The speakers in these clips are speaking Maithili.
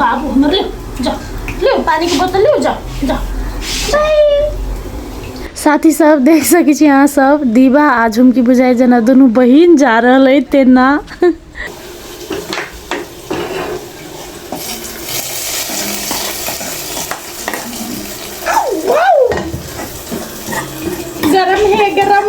बाबू हमर ले जा ले पानी के बोतल ले जा जा बाय साथी सब देख सकै छी अहाँ सब दीवा आ झुमकी बुझाइ जेना दुनू बहिन जा रहल अइ तेना गरम है गरम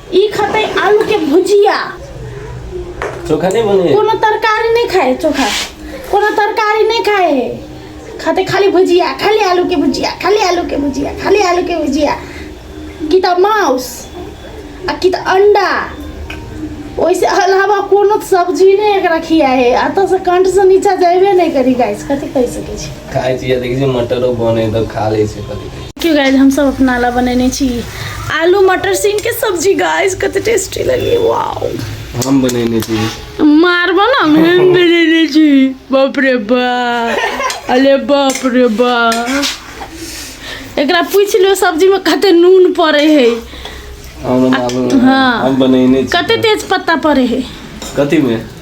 ई खतै आलू के भुजिया चोखा नहीं बने कोनो तरकारी नहीं खाए चोखा कोनो तरकारी नहीं खाए खाते खाली भुजिया खाली आलू के भुजिया खाली आलू के भुजिया खाली आलू के भुजिया कि त माउस आ कि त अंडा ओइसे अलावा कोनो सब्जी नहीं एकरा खिया है अतः से कंठ से नीचा जाइबे नहीं करी गाइस कथी कह सके छी खाए छी देखी छी मटरो बने तो खा ले छी कभी देखियौ गाइज हमसभ अपना लए बनेने छी आलू मटर सीम के सब्जी गाइज कते टेस्टी लगे वाओ हम बनेने छी मारबो ना हम बनेने छी बाप रे बा अरे बाप रे बा एकरा पूछ लियो सब्जी में कते नून पड़े है हम बनाबो हाँ। हम बनेने छी कते तेज पत्ता पड़े है कथी में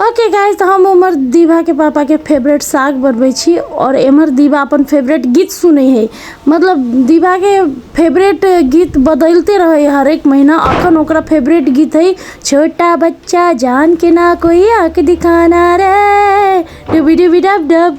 ओके गाइस तऽ हम उमर दीवाके पापाके फेवरेट साग बनबै छी आओर एमहर दीवा अपन फेवरेट गीत सुनै हइ मतलब दीवाके फेवरेट गीत बदलिते रहै हइ हरेक महीना अखन ओकरा फेवरेट गीत हइ छोटा बच्चा जान के ना कोई आँख दिखाना रे डुबी डुबी डब डब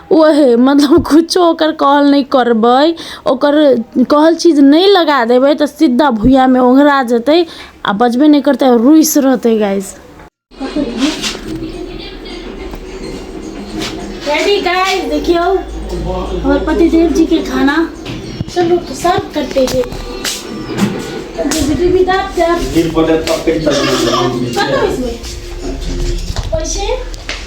ओहे मतलब कुछो ओकर कहल नहि करबै ओकर कहल चीज नहि लगा देबै तऽ सीधा भुइयामे ओंघरा जेतै आ बजबे नहि करतै आओर रुइस रहतै गाइस रेडी गाइस देखियो हमर पतिदेव जी के खाना चलो तो सर्व करते हैं भी दाब जाब गिर पड़े तब कहीं चल कटो इसमें पैसे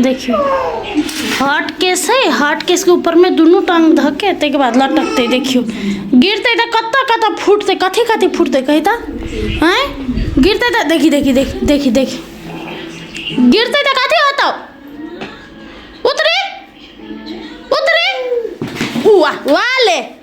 देखियौ हॉट केस है हॉट केसके ऊपरमे दुनू टाङ्ग धऽके ताहिके बाद लटकतै देखियौ गिरतै तऽ कतऽ कतऽ फूटतै कथी कथी फूटतै कही तऽ आँय गिरतै तऽ देखी देखी देखी देखी देखी गिरतै तऽ कथी होतौ उतरी उतरी उआ उआ ले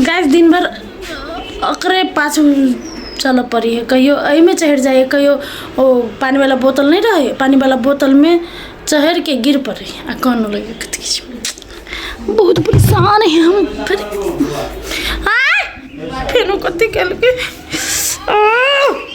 गाइस दिन भर ओकरे पाछू चलऽ पड़ी है कहियो एहिमे चढ़ि जाइ है कहियो ओ पानी वाला बोतल नहीं रहे पानी वाला बोतल में चढ़ के गिर पड़े आ कान लगे कथी किछु। बहुत परेशान है हम फिर आय! फेनो कथी केलकै आह!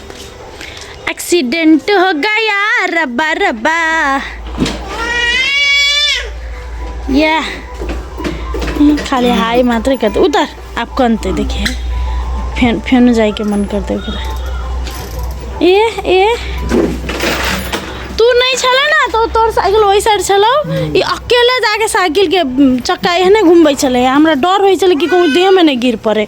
एक्सीडेंट हो गया रब्बा रब्बा या खाली हाई मात्र करते उतर आप कनते देखिए फेन फेन जाए के मन करते ओकरा ए ए तू नहीं छला ना तो तोर साइकिल वही साइड छलो ई अकेले जाके साइकिल के चक्का एहने घूमबै छलै हमरा डर होइ छलै कि कहूँ देह में नहीं गिर पड़े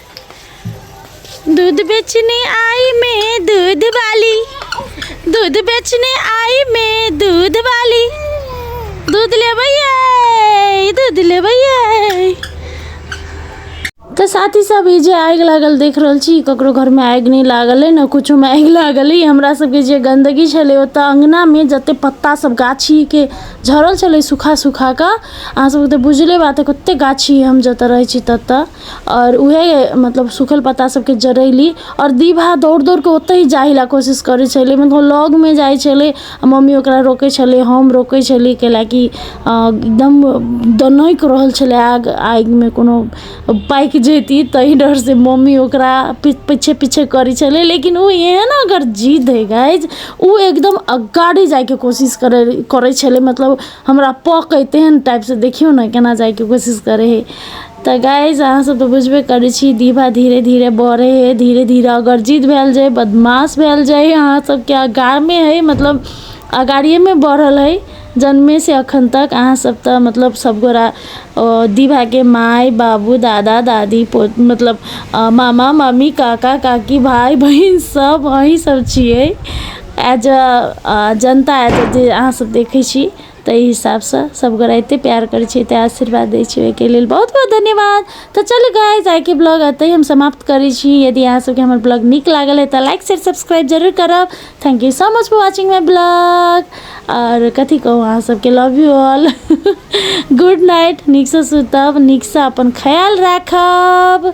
दूध बेचने आई मैं दूध वाली दूध बेचने आई मैं दूध वाली दूध ले भैया दूध ले भैया तो साथी सब ई जे आगि लागल देख रहल छी ककरो घरमे आगि नहि लागल अइ ने किछोमे आगि लागल अइ हमरा सबके जे गन्दगी छलै ओतऽ अङ्गनामे जतेक पत्ता सब गाछीके झड़ल छलै सुखा सुखा कऽ अहाँ सबके तऽ बुझले बात अइ कतेक गाछी हम जतऽ रहै छी ततऽ आओर उएह मतलब सूखल पत्ता सभके जड़यली आओर दिन भरि दौड़ि दौड़ि कऽ ओतहि जाय लेल कोशिश करै छलै मतलब लगमे जाइ छलै आ मम्मी ओकरा रोकै छलै हम रोकै छलियै कै लेल कि एकदम दनकि रहल छलै आग आगिमे कोनो पाकि जयती ताहि डरसँ मम्मी ओकरा पि पीछे पीछे करै छलै लेकिन ओ एहन ओकर जिद्द हइ गाइज ओ एकदम अगाड़ी जायके कोशिश करै करै छलै मतलब हमरा पकय तेहन टाइपसँ देखियौ ने केना जायके कोशिश करै हइ तऽ गाइज अहाँसभ तऽ बुझबे करै छी दीभा धीरे धीरे बढ़ै हइ धीरे धीरे अगर जिद भेल जाय बदमाश भेल जाय अहाँसभके आगाँमे हइ मतलब अगाड़िएमे बढ़ल हइ जन्मेसँ एखन तक अहाँसभ तऽ मतलब सभगोरा दीभाके माय बाबू दादा दादी पो मतलब मामा मामी काका काकी भाय बहिन सभ अहीँसभ छियै as a Janata as a जे अहाँसभ देखै छी ताहि हिसाबसँ सभगोराइते प्यार करै छियै तैँ आशीर्वाद दै छियै ओहिके लेल बहुत बहुत धन्यवाद तऽ चलू गाइज आइके ब्लॉग एतहि हम समाप्त करै छी यदि अहाँ सभके हमर ब्लॉग नीक लागल है तऽ लाइक शेयर सब्सक्राइब जरूर करब thank you so much for watching my blog आओर कथी कहू अहाँ सभके love you all good night नीकसँ सुतब नीकसँ अपन ख्याल राखब